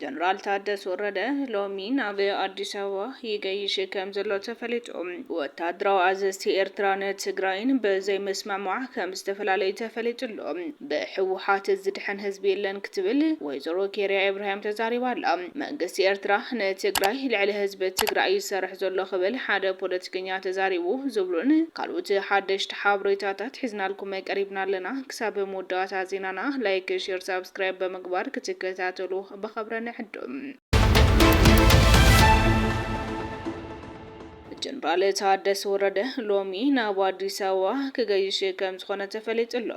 ጀነራል ታደሰ ወረደ ሎሚ ናብ ኣዲስ ኣበባ ይገይሽ ከም ዘሎ ተፈሊጡ። ወታደራዊ ኣዘዝቲ ኤርትራን ትግራይን ብዘይምስምዕማዕ ከም ዝተፈላለዩ ተፈሊጡ ኣሎ። ብሕወሓት ዝድሕን ህዝቢ የለን ክትብል ወይዘሮ ኬርያ ኤብራሂም ተዛሪባ ኣላ። መንግስቲ ኤርትራ ንትግራይ ልዕሊ ህዝቢ ትግራይ እዩ ዝሰርሕ ዘሎ ክብል ሓደ ፖለቲከኛ ተዛሪቡ ዝብሉን ካልኡት ሓደሽቲ ሓብሬታታት ሒዝናልኩም ቀሪብና ኣለና። ክሳብ መወዳእታ ዜናና ላይክ ሼር ሳብስክራይብ ብምግባር ክትከታተሉ ብኸብረ ንዕድም። ጀነራል ታደሰ ወረደ ሎሚ ናብ ኣዲስ ኣበባ ክገይሽ ከም ዝኾነ ተፈሊጡ ኣሎ።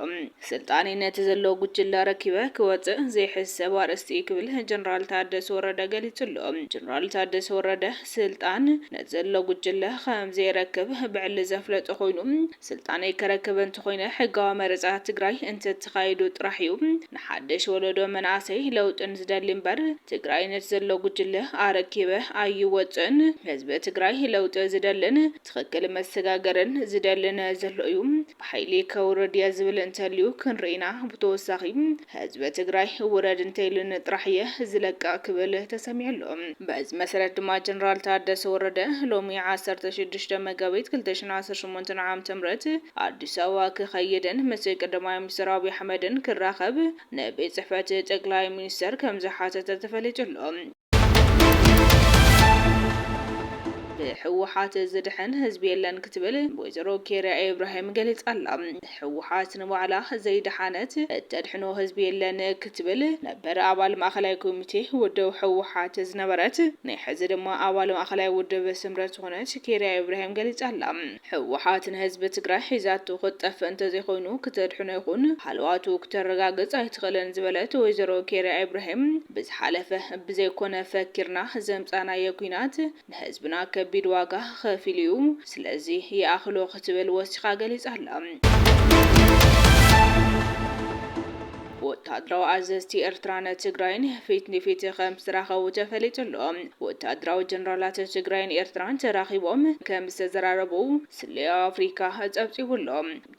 ስልጣነይ ነቲ ዘሎ ጉጅለ ኣረኪበ ክወፅእ ዘይሕሰብ ኣርእስቲ እዩ ክብል ጀነራል ታደሰ ወረደ ገሊፁ ኣሎ። ጀነራል ታደሰ ወረደ ስልጣን ነቲ ዘሎ ጉጅለ ከም ዘየረክብ ብዕሊ ዘፍለጠ ኮይኑ ስልጣነይ ከረክብ እንተኾይነ ሕጋዊ መረፃ ትግራይ እንተተኻይዱ ጥራሕ እዩ ንሓደሽ ወለዶ መናእሰይ ለውጥን ዝደሊ እምበር ትግራይነት ዘሎ ጉጅለ ኣረኪበ ኣይወፅእን። ህዝቢ ትግራይ ለውጢ ዝደልን ትኽክል መሰጋገርን ዝደልን ዘሎ እዩ። ብሓይሊ ከውርድ እየ ዝብል እንተልዩ ክንርኢ ኢና። ብተወሳኺ። ህዝቢ ትግራይ ውረድ እንተኢሉኒ ጥራሕ እየ ዝለቅቕ ክብል ተሰሚዑ ኣሎ። በዚ መሰረት ድማ ጀነራል ታደሰ ወረደ ሎሚ ዓሰርተ ሽዱሽተ መጋቢት ክልተ ሽሕን ዓሰርተ ሸሞንተን ዓመተ ምህረት ኣዲስ ኣበባ ክኸይድን ምስ ቀዳማይ ሚኒስተር ኣብይ ኣሕመድን ክራኸብ ንቤት ጽሕፈት ጠቅላይ ሚኒስተር ከምዝሓተተ ተፈሊጡ ኣሎ። ብህወሓት ዝድሕን ህዝቢ የለን ክትብል ወይዘሮ ኬርያ ኢብራሂም ገሊፃ ኣላ። ህወሓት ንባዕላ ዘይደሓነት እተድሕኖ ህዝቢ የለን ክትብል ነበር ኣባል ማእኸላይ ኮሚቴ ውድብ ህወሓት ዝነበረት ናይ ሕዚ ድማ ኣባል ማእኸላይ ውድብ ስምረት ዝኾነት ኬርያ ኢብራሂም ገሊፃ ኣላ። ህወሓት ንህዝቢ ትግራይ ሒዛቶ ክትጠፍእ እንተዘይኮይኑ ክተድሕኖ ይኹን ሃለዋቱ ክተረጋግፅ ኣይትኽእልን ዝበለት ወይዘሮ ኬርያ ኢብራሂም ብዝሓለፈ ብዘይኮነ ፈኪርና ዘምፃእናዮ ኲናት ንህዝብና ከቢድ ዋጋ ኸፊሉ ዩ ስለዚ ይኣኽሎ ክትብል ወሲኻ ገሊፃ ኣላ። ወተሃደራዊ ኣዘዝቲ ኤርትራን ትግራይን ፊት ንፊት ከምዝተራኸቡ ተፈሊጡ ኣሎ። ወተሃደራዊ ጀነራላት ትግራይን ኤርትራን ተራኺቦም ከምዝተዘራረቡ ስለያ ኣፍሪካ ፀብፂቡ ኣሎ።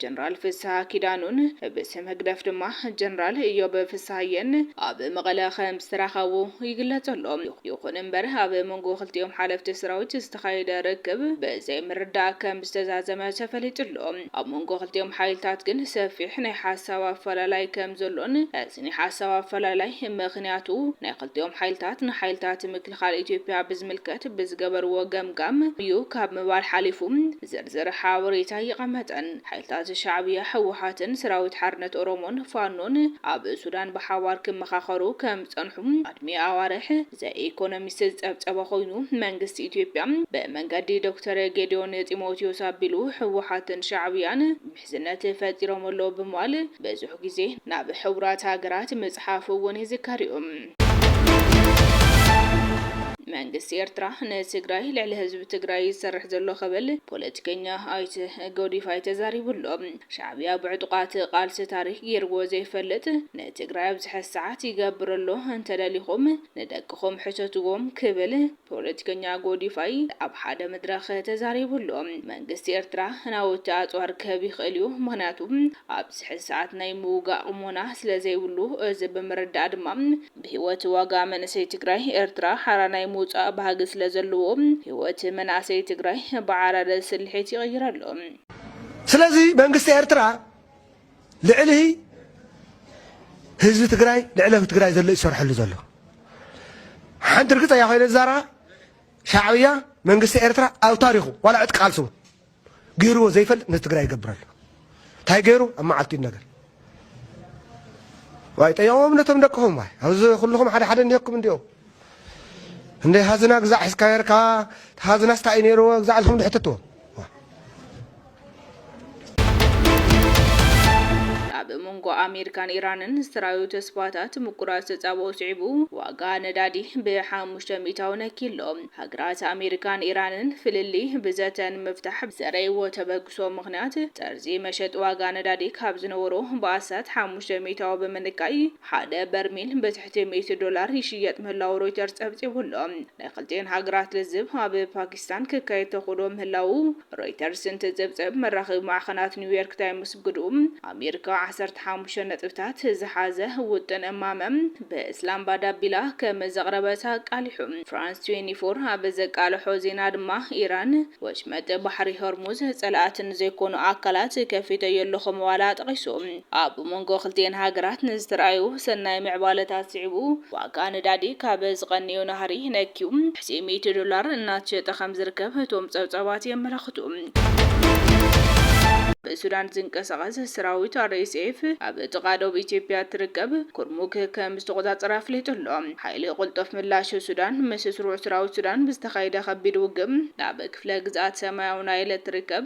ጀነራል ፍስሃ ኪዳኑን ብስም ህግደፍ ድማ ጀነራል እዮብ ፍስሃየን ኣብ መቐለ ከምዝተራኸቡ ይግለፅ ኣሎ። ይኹን እምበር ኣብ መንጎ ክልቲኦም ሓለፍቲ ሰራዊት ዝተኻየደ ርክብ ብዘይምርድዳእ ከምዝተዛዘመ ተፈሊጡ ኣሎ። ኣብ መንጎ ክልቲኦም ሓይልታት ግን ሰፊሕ ናይ ሓሳብ ኣፈላላይ ከም ዘሎን እዚ ናይ ሓሳብ ኣፈላላይ ምኽንያቱ ናይ ክልቲኦም ሓይልታት ንሓይልታት ምክልኻል ኢትዮጵያ ብዝምልከት ብዝገበርዎ ገምጋም እዩ ካብ ምባል ሓሊፉ ዝርዝር ሓበሬታ ኣይቐመጠን። ሓይልታት ሻዕብያ፣ ህወሓትን ሰራዊት ሓርነት ኦሮሞን፣ ፋኖን፣ ኣብ ሱዳን ብሓባር ክመኻኸሩ ከም ጸንሑ ኣድሚ ኣዋርሕ ዘኢኮኖሚስት ዝጸብጸበ ኮይኑ መንግስቲ ኢትዮጵያ ብመንገዲ ዶክተር ጌዲዮን ጢሞቲዮስ ኣቢሉ ህወሓትን ሻዕብያን ምሕዝነት ፈጢሮም ኣለዉ ብምባል ብዙሕ ግዜ ናብ ሕቡራት ሃገራት ምጽሓፉ እውን ይዝከር እዩ። መንግስቲ ኤርትራ ንትግራይ ልዕሊ ህዝቢ ትግራይ ይሰርሕ ዘሎ ክብል ፖለቲከኛ ኣይተ ጎዲፋይ ተዛሪቡ ኣሎ። ሻዕብያ ብዕጡቃት ቃልሲ ታሪክ ጌርዎ ዘይፈልጥ ንትግራይ ኣብዚ ሐዚ ሰዓት ይገብር ኣሎ እንተደሊኩም ንደቅኩም ሕተትዎም ክብል ፖለቲከኛ ጎዲፋይ ኣብ ሓደ መድረክ ተዛሪቡ ኣሎ መንግስቲ ኤርትራ ናውቲ ኣፅዋር ክህብ ይክእል እዩ ምክንያቱ ኣብዚ ሐዚ ሰዓት ናይ ምውጋእ ቅሞና ስለዘይብሉ እዚ ብምርዳእ ድማ ብሂወት ዋጋ መንእሰይ ትግራይ ኤርትራ ሓራ ናይ ምውፃእ ባህጊ ስለዘለዎ ሂወት መናእሰይ ትግራይ ብዓራረ ስልሒት ይቅይር ኣሎ። ስለዚ መንግስቲ ኤርትራ ልዕሊ ህዝቢ ትግራይ ልዕሊ ህዝቢ ትግራይ ዘሎ ይሰርሐሉ ዘሎ ሓንቲ ርግፀያ ኮይነ ዛራ ሻዕብያ መንግስቲ ኤርትራ ኣብ ታሪኹ ዋላ ዕጥቂ ቃልሲ እውን ገይርዎ ዘይፈልጥ ንትግራይ ይገብረሉ እንታይ ገይሩ ኣብ መዓልቲ ነገር ዋይ ጠየዎም ነቶም ደቅኹም ዋይ ኣብዚ ኩልኹም ሓደ ሓደ እንዲኩም እንዲኦም እንዴ ሃዝና ግዛዕ ሒዝካ ነርካ ሃዝናስ ታይ እዩ ነይርዎ ግዛዕ ኢልኩም ድሕትትዎ ኣብ መንጎ ኣሜሪካን ኢራንን ዝተራዩ ተስፋታት ምቁራጽ ተጻብኦ ስዒቡ ዋጋ ነዳዲ ብሓሙሽተ ሚእታዊ ነኪሎ። ሃገራት ኣሜሪካን ኢራንን ፍልልይ ብዘተ ንምፍታሕ ብዘረይዎ ተበግሶ ምኽንያት ጠርዚ መሸጢ ዋጋ ነዳዲ ካብ ዝነበሮ ብኣስታት ሓሙሽተ ሚእታዊ ብምንካይ ሓደ በርሚል ብትሕቲ እቲ ሚእቲ ዶላር ይሽየጥ ምህላዉ ሮይተርስ ጸብጺቡ ኣሎ። ናይ ክልቲኤን ሃገራት ልዝብ ኣብ ፓኪስታን ክካየድ ተኽእሎ ምህላዉ ሮይተርስ እንትጽብጽብ፣ መራኸቢ ማዕኸናት ኒውዮርክ ታይምስ ግዱ ኣሜሪካ ዓሰርተ ሓሙሽተ ነጥብታት ዝሓዘ ውጥን እማመ ብእስላምባድ ኣቢላ ከም ዘቕረበት ኣቃሊሑ። ፍራንስ ትዌንቲ ፎር ኣብ ዘቃለሖ ዜና ድማ፣ ኢራን ወሽመጥ ባሕሪ ሆርሙዝ ጸላእቲ ንዘይኮኑ ኣካላት ከፊተዮ ኣለኹ ምባላ ጠቒሱ። ኣብ መንጎ ክልቲኤን ሃገራት ንዝተርኣዩ ሰናይ ምዕባለታት ስዒቡ ዋጋ ነዳዲ ካብ ዝቐንዮ ናህሪ ነክዩ ትሕቲ ሚእቲ ዶላር እናተሸጠ ከምዝርከብ እቶም ፀብፃባት የመላኽቱ። ብሱዳን ዝንቀሳቐስ ሰራዊት ኣርኤስኤፍ ኣብ ጥቓ ዶብ ኢትዮጵያ እትርከብ ኩርሙክ ከምዝተቖፃፀረ ኣፍሊጡ ኣሎ። ሓይሊ ቅልጡፍ ምላሽ ሱዳን ምስ ስሩዕ ሰራዊት ሱዳን ብዝተኻየደ ከቢድ ውግእ ናብ ክፍለ ግዝኣት ሰማያዊ ናይል እትርከብ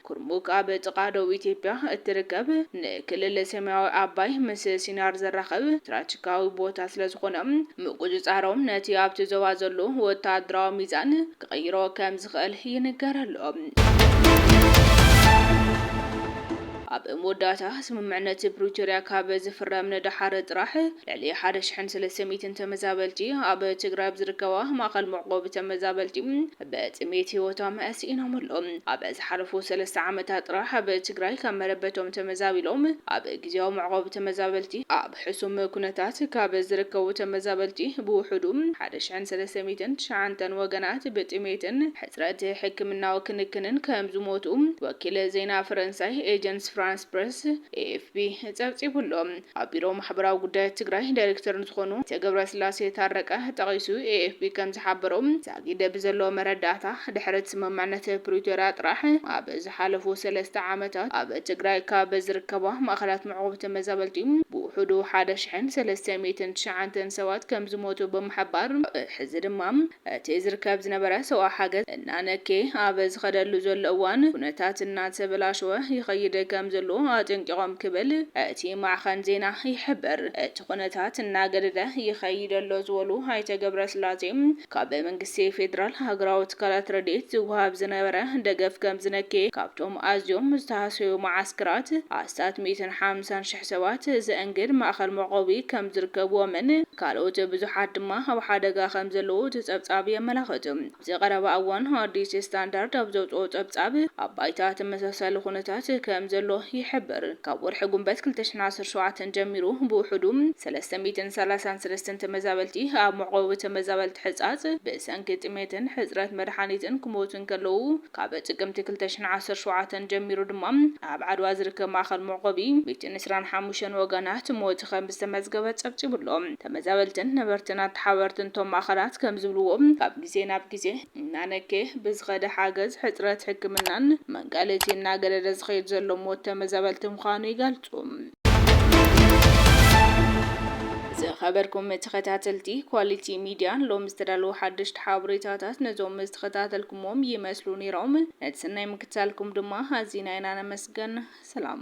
ኩርሙክ ኣብ ጥቓ ዶብ ኢትዮጵያ እትርከብ ንክልል ሰማያዊ ኣባይ ምስ ሲናር ዘራኽብ ስትራቴጂካዊ ቦታ ስለዝኾነ ምቁጽጻሮም ነቲ ኣብቲ ዞባ ዘሎ ወተሃደራዊ ሚዛን ክቕይሮ ከምዝኽእል ይንገር ኣሎ። ኣብ መወዳእታ፣ ስምምዕነት ፕሪቶርያ ካብ ዝፍረም ንደሓር ጥራሕ ልዕሊ ሓደ ሽሕን ሰለስተ ሚእትን ተመዛበልቲ ኣብ ትግራይ ኣብ ዝርከባ ማእኸል መዕቖቢ ተመዛበልቲ ብጥሜት ህይወቶም ስኢኖም ኣለው። ኣብ ዝሓለፉ ሰለስተ ዓመታት ጥራሕ ኣብ ትግራይ ካብ መረበቶም ተመዛቢሎም ኣብ ግዝያዊ መዕቖቢ ተመዛበልቲ ኣብ ሕሱም ኩነታት ካብ ዝርከቡ ተመዛበልቲ ብውሑዱ ሓደ ሽሕን ሰለስተ ሚእትን ትሽዓንተን ወገናት ብጥሜትን ሕፅረት ሕክምናዊ ክንክንን ከምዝሞቱ ወኪል ዜና ፈረንሳይ ኤጀንስ ፍራንስ ፕረስ፣ ኤኤፍፒ፣ ፀብፂቡ'ሎ። ኣብ ቢሮ ማሕበራዊ ጉዳያት ትግራይ ዳይሬክተር ንዝኾኑ ኣይተ ገብረስላሴ ታረቀ ጠቒሱ ኤኤፍፒ ከምዝሓበሮ፣ ዛጊድ ብዘሎ መረዳእታ ድሕሪ'ቲ ስምምዕነት ፕሪቶርያ ጥራሕ ኣብ ዝሓለፉ ሰለስተ ዓመታት ኣብ ትግራይ ካብ ዝርከባ ማእኸላት መዕቖቢ ተመዛበልቲ ብውሑዱ ሓደ ሽሕን ሰለስተ ሚእትን ትሽዓንተን ሰባት ከምዝሞቱ ብምሕባር፣ ሕዚ ድማ እቲ ዝርከብ ዝነበረ ሰብኣዊ ሓገዝ እናነከየ ኣብ ዝኸደሉ ዘሎ እዋን፣ ኩነታት እናተበላሸወ ይኸይድ ከምዘሎ ኣጠንቂቖም ክብል እቲ ማዕኸን ዜና ይሕብር። እቲ ኩነታት እናገደደ ይኸይድ ኣሎ ዝበሉ ኣይተ ገብረስላሴ፣ ካብ መንግስቲ ፌደራል፣ ሃገራዊ ትካላት ረድኤት ዝወሃብ ዝነበረ ደገፍ ከምዝነከየ፣ ካብቶም ኣዝዮም ዝተሃሰዩ መዓስከራት ኣስታት ሚእትን ሓምሳን ሽሕ፣ ሰባት ዘእንግድ ማእኸል መዕቆቢ ከምዝርከብዎምን ካልኦት ብዙሓት ድማ ኣብ ሓደጋ ከምዘለዉ እቲ ፀብፃብ የመላኽት። ኣብዚ ቀረባ እዋን ኣዲስ ስታንዳርድ ኣብ ዘውፅኦ ፀብፃብ ኣብ ባይታ ተመሳሳሊ ኩነታት ከምዘሎ ይሕብር። ካብ ወርሒ ጉንበት ክልተ ሽሕን ዓሰርተ ሸውዓተን ጀሚሩ ብውሑዱ ሰለስተ ሚእትን ሰላሳን ሰለስተን ተመዛበልቲ ኣብ መዕቆቢ ተመዛበልቲ ሕፃፅ ብሰንኪ ጥሜትን ሕፅረት መድሓኒትን ክሞቱ እንከለዉ፣ ካብ ጥቅምቲ ክልተ ሽሕን ዓሰርተ ሸውዓተን ጀሚሩ ድማ ኣብ ዓድዋ ዝርከብ ማእኸል መዕቆቢ ቤትን ዕስራን ሓሙሽተን ወገናት ሞት ከምዝተመዝገበ ፀብፂቡ ኣሎ። ተመዛበልትን ነበርትን ኣተሓባበርትን እቶም ማእኸላት ከምዝብልዎ ካብ ግዜ ናብ ግዜ እናነከየ ብዝኸደ ሓገዝ፣ ሕፅረት ሕክምናን መንቀሊቲ እናገደደ ዝኸይድ ዘሎ ሞት ተመዛበልቲ ምዃኑ ይገልፁ። ይገልጹ። ዝኸበርኩም ተኸታተልቲ ኳሊቲ ሚድያ ሎሚ ዝተዳለዉ ሓደሽቲ ሓበሬታታት ነዞም ዝተኸታተልኩምዎም ይመስሉ ነይሮም። ነቲ ሰናይ ምክትታልኩም ድማ ኣዚና ኢና ነመስግን። ሰላም።